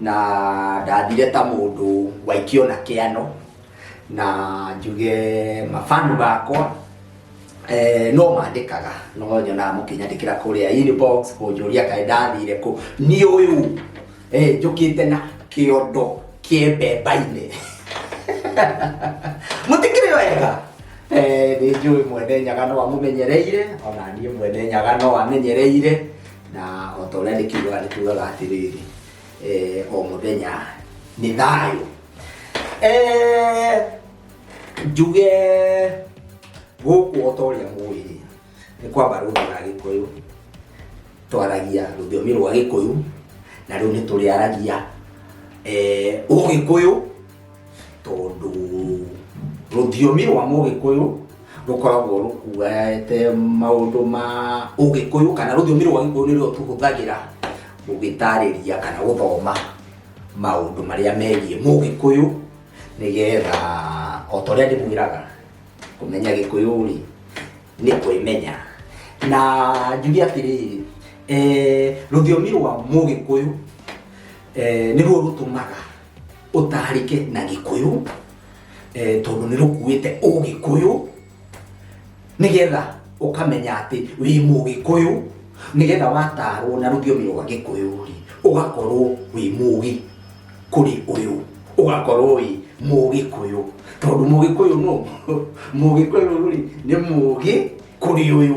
na ndathire ta mũndũ waikio na kĩano na njuge mabanu bakwa eh, no mandĩkaga no nyonaga mũkĩnyandĩkĩra kũrĩa inbox kũnjũria kaĩ ndathire kũ niĩ ũyũ eh, njũkĩte na kĩondo kĩembemba-inĩ mũtikĩrĩ wega Eh, nĩ njũĩ mwene nyaga no amũmenyereire ona niĩ mwene nyaga no amenyereire na o ta ũrĩa ndĩkiugaga nĩ tugaga atĩrĩrĩ eh, o mũthenya nĩ thayũ Eh, njuge gũkũ o ta ũrĩa mũĩ nĩ kwamba rũthĩ rwa gĩkũyũ twaragia rũthiomi rwa gĩkũyũ na rĩu nĩ tũrĩaragia eh, ũgĩkũyũ tondũ rũthiomi rwa mũgĩkũyũ rũkoragwo rũkuete maũndũ ma ũgĩkũyũ kana rũthiomi rwa gĩkũyũ nĩruo tũhũthagĩra gũgĩtarĩria kana gũthoma maũndũ marĩa megiĩ mũgĩkũyũ nĩgetha o ta ũrĩa ndĩmwĩraga kũmenya gĩkũyũ rĩ nĩ kwĩmenya na njuge atĩrĩrĩ eh, rũthiomi rwa mũgĩkũyũ eh, nĩruo rũtũmaga ũtarĩke na gĩkũyũ eh, tondũ nĩ rũkuĩte ũgĩkũyũ nĩgetha ũkamenya atĩ wĩ mũgĩkũyũ nĩgetha watarwo na rũthiomi rwa gĩkũyũ rĩ ũgakorwo wĩ mũgĩ kũrĩ ũyũ ũgakorwo wĩ mũgĩkũyũ tondũ mũgĩkũyũ no mũgĩkũyũ rĩ nĩ mũgĩ kũrĩ ũyũ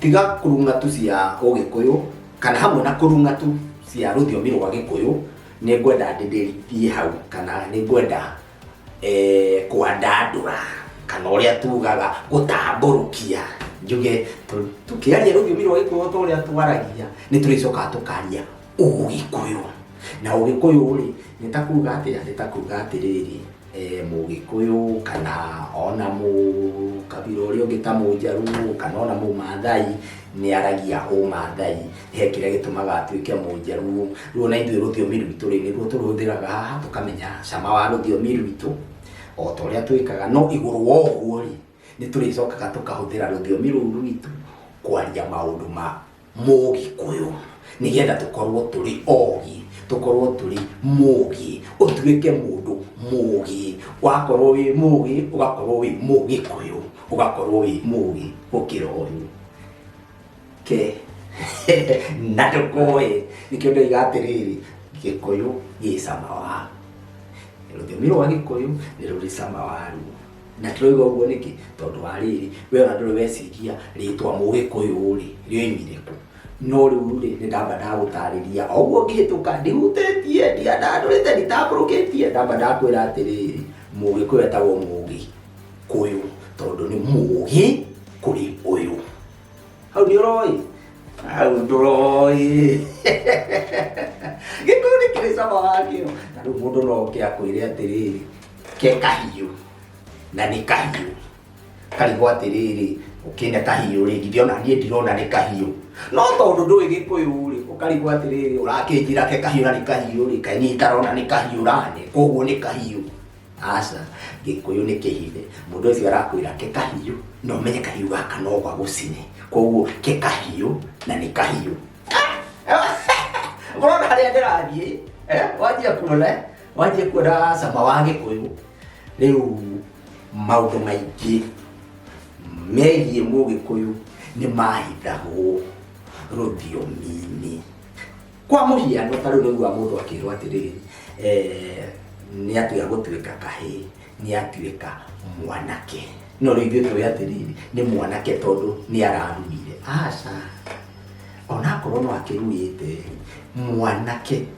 tiga kũrung'a tu cia ũgĩkũyũ kana hamwe na kũrung'a tu cia rũthiomi rwa gĩkũyũ nĩ ngwenda ndĩndĩrie hau kana nĩ ngwenda eh, kwandandũra kana ũrĩa tugaga gũtambũrũkia njuge tũ- tũkĩaria rũthiomi rwa gĩkũyũ ta ũrĩa twaragia nĩ tũrĩcokaga tũkaria ũgĩkũyũ na ũgĩkũyũ rĩ nĩ ta kuga atĩa nĩ ta kuga atĩrĩrĩ e, mũgĩkũyũ kana ona mũ kabira ũrĩa ũngĩ ta mũnjaruo kana ona mũmathai nĩ aragia ũmathai he kĩrĩa gĩtũmaga atuĩke mũnjaruo rĩu ona ithuĩ rũthiomi rwitũ rĩ nĩguo tũrũhũthĩraga haha tũkamenya cama wa rũthiomi rwitũ o ta ũrĩa twĩkaga no igũrũ wa ũguo rĩ nĩ tũrĩcokaga tũkahũthĩra rũthiomi rũu rwitũ kwaria maũndũ ma mũgĩkũyũ nĩgetha tũkorwo tũrĩ ogĩ, tũkorwo tũrĩ mũgĩ, ũtuĩke mũndũ mũgĩ. Wakorwo wĩ mũgĩ ũgakorwo wĩ mũgĩkũyũ, ũgakorwo wĩ mũgĩ gũkĩra ũyũ. Ke, na ndũkoĩ, nĩkĩo ndoiga atĩrĩrĩ, gĩkũyũ gĩ cama wa, rũthiomi rwa gĩkũyũ nĩ rũrĩ cama waruo. na tũrauga ũguo nĩkĩ tondũ wa rĩrĩ we ona ndũrĩ weciria rĩtwa mũgĩkũyũ rĩ rĩoimire kũ no rĩu rĩ nĩ ndamba ndagũtarĩria o ũguo ngĩhĩtũka ndihutĩtie ndiandandũrĩte nditambũrũkĩtie ndamba ndakwĩra atĩrĩrĩ mũgĩkũyũ etagwo mũgĩ kũyũ tondũ nĩ mũgĩ kũrĩ ũyũ hau nĩ ũroĩ hau ndũroĩ gĩkũyũ nĩ kĩrĩ cama wakĩo na rĩu mũndũ no oke akwĩre atĩrĩrĩ ke kahiũ na nĩ kahiũ karigwo atĩrĩrĩ ũkĩne kahiũ rĩ githĩ ona niĩ ndirona nĩ kahiũ no tondũ ndũĩ gĩkũyũ rĩ ũkarigwo atĩrĩrĩ ũrakĩnjĩra ke kahiũ na nĩ kahiũ rĩ kaĩ niĩ itarona nĩ kahiũ rane koguo nĩ kahiũ aca gĩkũyũ nĩ kĩhithe mũndũ ũcio arakwĩra ke kahiũ na ũmenye kahiũ gaka no gagũcine koguo ke kahiũ na nĩ kahiũ ũrona harĩa ndĩrathiĩ eh, wanjia kuona eh? wanjie kuona cama wa gĩkũyũ rĩu maũndũ maingĩ megiĩ mũgĩkũyũ nĩ mahithagwo rũthiomi-inĩ kwa mũhiano ta rĩu rĩu wa mũndũ akĩrwo atĩrĩrĩ eh, nĩ atiga gũtuĩka kahĩ nĩ atuĩka mwanake no rĩu ithuĩ tũĩ atĩrĩrĩ nĩ mwanake tondũ nĩ ararurire aca onakorwo no akĩrurĩte mwanake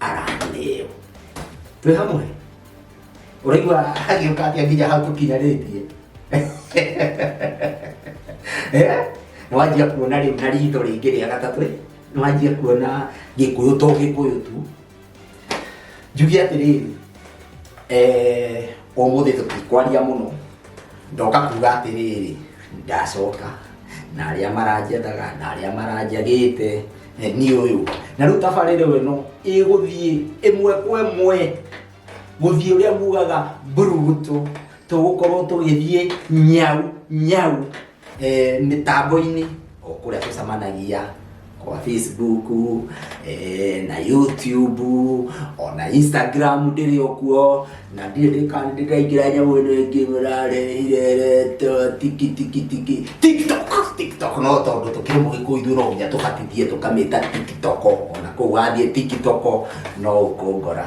araneo twĩ hamwe ũraigua agĩũka atĩa nginya hau tũkinyanĩtie Eh? nĩwanjia kuona rĩu na ritho rĩngĩ rĩa gatatũ ĩ, nĩwanjia kuona gĩkũyũ to gĩkũyũ tu njuge atĩrĩrĩ eh, ũmũthĩ tũtikwaria mũno ndoka kuga atĩrĩrĩ ndacoka na arĩa maranjethaga na arĩa maranjagĩte eh, niĩ ũyũ na rĩu tabarĩre ĩno ĩgũthiĩ ĩmwe kwa ĩmwe gũthiĩ ũrĩa mugaga mburugutu tũgũkorwo tũgĩthiĩ nyau nyau eh, mĩtambo-inĩ o kũrĩa tũcemanagia kwa facebook eh, na youtube ona instagram ndĩrĩ okuo na ndirĩ ndĩka- ndĩraingĩra nyamũ ĩno ĩngĩ mũrarehirerete tiki tiki tiki tiktok tiktok no tondũ tũkĩrĩ mũgĩkũyũ ithuĩ no nginya tũbatithie tũkamĩta tiktok ona kũu wathiĩ tiktok no ũkũngora